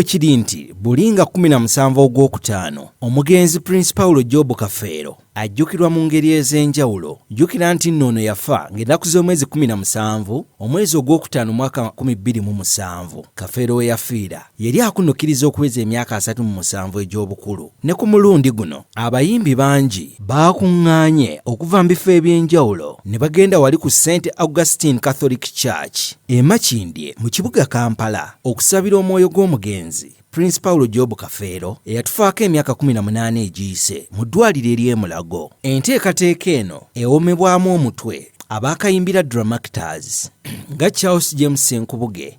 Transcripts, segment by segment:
kiri nti buli nga 17 ogwokutaano omugenzi prince paulo jobu kafeero ajjukirwa mu ngeri ez'enjawulo jjukira nti nno ono yafa ng'ennaku z'omwezi 17 omwezi ogwokutaano mwaka 227 kafeero we yafiira Yali akunukiriza okuweza emyaka asatu mu musanvu egy'obukulu. Ne ku mulundi guno, abayimbi bangi baakuŋŋaanye okuva mu bifo eby'enjawulo ne bagenda wali ku St Augustine Catholic Church e Makindye mu kibuga Kampala okusabira omwoyo gw'omugenzi Prince Paulo Job Kafeero eyatufaako emyaka 18 egiyise mu ddwaliro ery'e Mulago. Enteekateeka eno ewomebwamu omutwe abaakayimbira Dramactors nga Charles James Nkubuge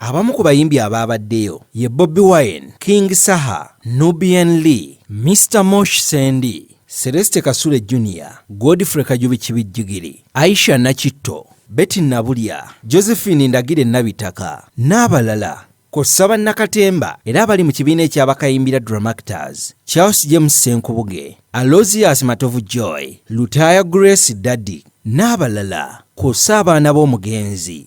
Abamu ku bayimbi abaabaddeyo ye Bobi Wine, King Saha, Nubian Li, Mister Mosh Sendi, Celeste Kasule Junior, Godfrey Kajubi Kibijjigiri, Aisha Nakitto, Betty Nabulya, Josephine Ndagire Nabitaka n'abalala kw'ossa bannakatemba era abali mu kibiina ekya Bakayimbira Dramactors, Charles James Ssenkubuge, Alozius Matovu Joy, Lutaaya Grace Daddy n'abalala kw'ossa abaana b'omugenzi.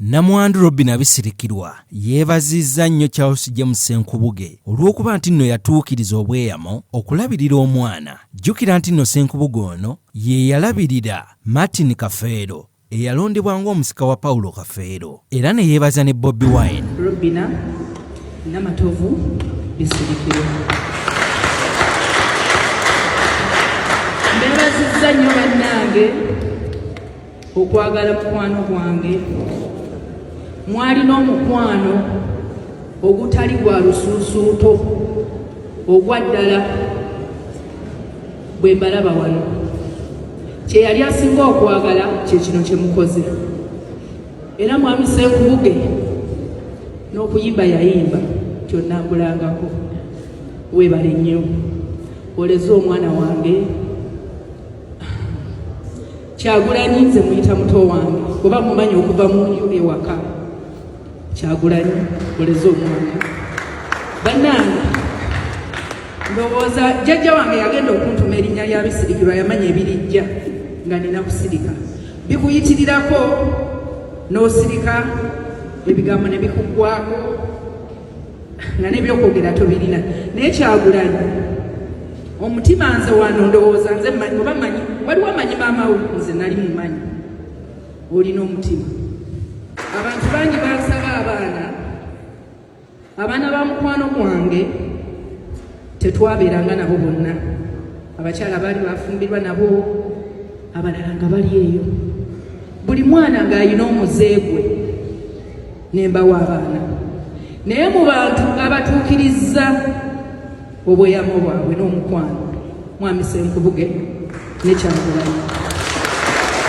Namwandu Robin Abisirikirwa yeebazizza nnyo Charles James Senkubuge olw'okuba nti nno yatuukiriza obweyamo okulabirira omwana. Jjukira nti nno Senkubuge ono ye yalabirira Martin Kafeero eyalondebwa ng'omusika wa Paulo Kafeero era ne yeebaza ne Bobi Wine. Robina Namatovu Bisirikiro. Neebazizza nnyo bannange okwagala mukwano gwange mwalina omukwano ogutali gwa lusuusuuto ogwa ddala bwe mbalaba wano kye yali asinga okwagala kye kino kye mukoze era mwami Ssenkubuge n'okuyimba yayimba kyonnambulangako weebale nnyo oleze omwana wange kyagulanyi nze muyita muto wange oba mumanyi okuva mu nju ewaka Kyagulanyi oleze omwana bannange ndowooza jjajja wange yagenda okuntuma erinnya lya bisirikirwa yamanya ebirijja nga nina kusirika bikuyitirirako n'osirika ebigambo ne bikuggwako nga nebyokwogera tobirina naye kyagulanyi omutima nze wano ndowooza nze oba manyi waliwo manyi maama we nze nali mumanyi olina omutima abantu bangi bansaba abaana abaana ba mukwano gwange tetwabeeranga nabo bonna abakyala baali bafumbirwa nabo abalala nga bali eyo buli mwana ng'alina omuze gwe ne mbawa abaana naye mu bantu abatuukirizza obweyamo bwabwe n'omukwano mwami senkubuge nekyagulanyi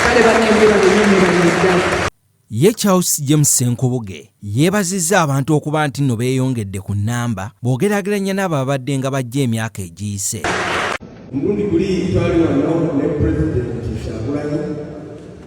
kale banemberaenyonyobanyeddala Ye Charles James Senkubuge yeebazizza abantu okuba nti nno beeyongedde ku nnamba bw'ogeraageranya n'abo ababadde nga bajja emyaka egiyise. Mulundi guli twali wano ne pulezidenti Kyagulanyi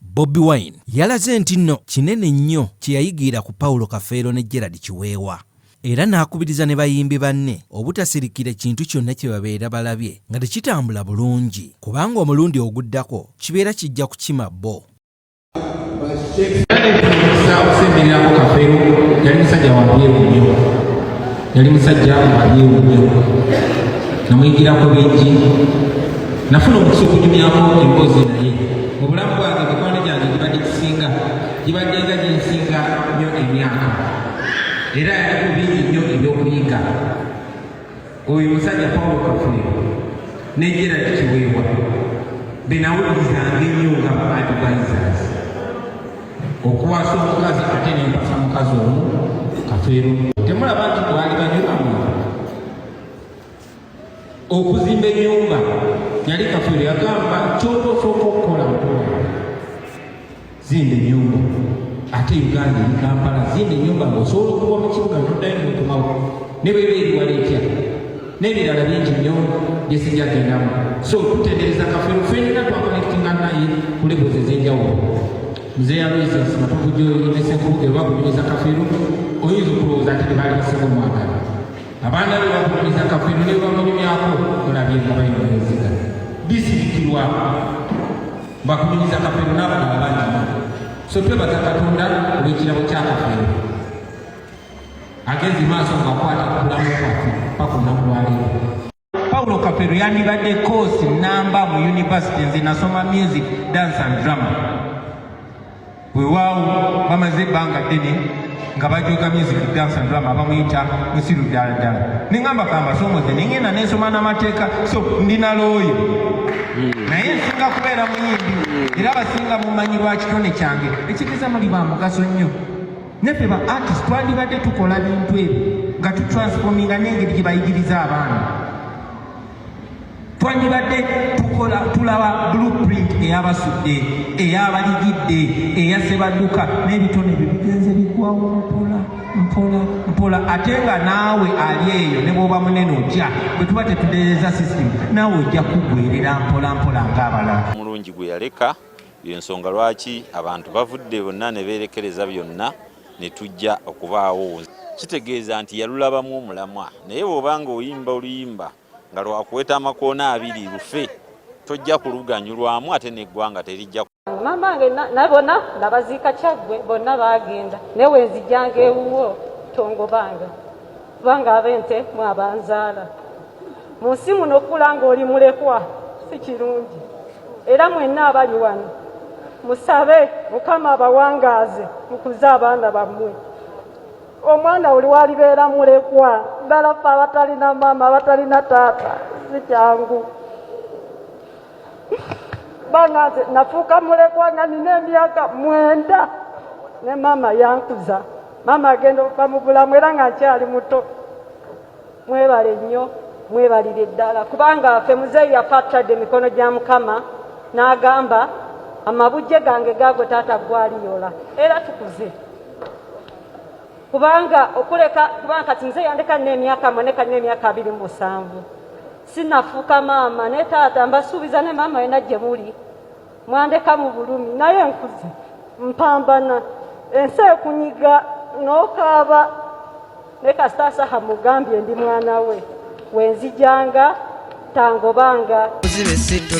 Bobi Wine yalaze nti nno kinene nnyo kye yayigiira ku Paulo Kafeero ne Gerald Kiweewa era n'akubiriza ne bayimbi banne obutasirikira kintu kyonna kye babeera balabye nga tekitambula bulungi kubanga omulundi oguddako kibeera kijja kukima bo. yali musajja amanyiwo nnyo namuyigirako bingi nafuna omukisa okunyumyako emboozi naye mu bulamu bwange mikwano gyange gibadde kisinga gibadde nga gyensinga nnyo emyaka era yaliko bingi nnyo ebyokuyiga oyo musajja pawulo kafuliro negyera kiweebwa benawulizanga ennyo nga baadvisors okuwasa omukazi ate nempasa mukazi omu kafeero temulaba nti bwali banyulamu okuzimba enyumba yali kafeero yagamba kyotosooka okukola mukulu zimba enyumba ate uganda eri kampala zimba enyumba ngaosobola okuva mu kibuga nodayo nokumawo ne bweba eriwala etya n'ebirala bingi nnyo bye sijja gendamu so tutendereza kafero fenna twakonekitinga naye ku levels ez'enjawulo mzeeyi aloises matuvujoyi ne senkubuge oba kunyumiza kafero oyinza okulowooza nti tebaali basinga omwagala abaana be bakunyumiza kafero ne bamunyumyako olabye nga bayingaeziga bisirikirwa bakunyumiza kafero n'abalala bangi so twebaza katonda olw'ekirabo kya kafero agezi maaso ng'akwata ku bulamu bwaffe paka olunaku lwaleero paulo kafero yandibadde koosi namba mu yunivasite nze nasoma music dance and drama wewaawo bamaze ebbanga ddene nga bajoga music dance and drama bamuyita musiru ddala ddala neŋamba kambasomoze nengenda nensoma n'amateeka so ndi nalooyo hmm. naye nsinga kubeera muyimbi hmm. era basinga mumanyi lwa kitone kyange ekigeza muli ba mugaso nnyo neffe ba artist twandibadde tukola bintu ebyo nga tutransfominga nengeri gyebayigiriza abaana twandibadde tukola tulaba blueprint eyabasudde eyabaligidde eyasebadduka n'ebitone bye bigenze bigwawo mpola mpola mpola ate nga naawe ali eyo ne bwoba munene otya bwe tuba tetudereza system naawe ojja kugwerera mpola mpola ng'abalala omulungi gwe yaleka Yensonga lwaki abantu bavudde bonna ne beerekereza byonna ne tujja okubaawo. Kitegeeza nti yalulabamu omulamwa naye bw'oba ng'oyimba oluyimba nga lwakuweta amakoona abiri lufe tojja kuluganyulwamu ate n'eggwanga terijja maama wange nabona nabaziika kyaggwe bonna baagenda naye wenzijjanga ewuwo tongobanga. kubanga ab'ente mu abanzaala mu nsi muno okukula ng'oli mulekwa si kirungi era mwenna abali wano musabe mukama abawangaaze mukuze abaana bammwe omwana oli walibeera mulekwa ddala fe abatalina maama abatalina taata si kyangu banga nze nafuuka mulekwa nga nina emyaka mwenda ne maama yankuza maama agenda okuva mu bulamu era nga nkyali muto mwebale nnyo mwebalire ddala kubanga afe muzeeyi yafa atadde emikono gya mukama n'agamba amabujje gange gaago taata gwaliyola era tukuze kubanga okuleka kubanga kati muzeeyi yandeka nina emyaka mwe ne kati na emyaka abiri mu musanvu sinafuuka maama ne taata mbasuubiza ne maama yena gye muli mwandeka mu bulumi naye nkuze mpambana ensi ekunyiga n'okaaba ne kasitaasaha mugambye ndi mwana we wenzijanga tangobanga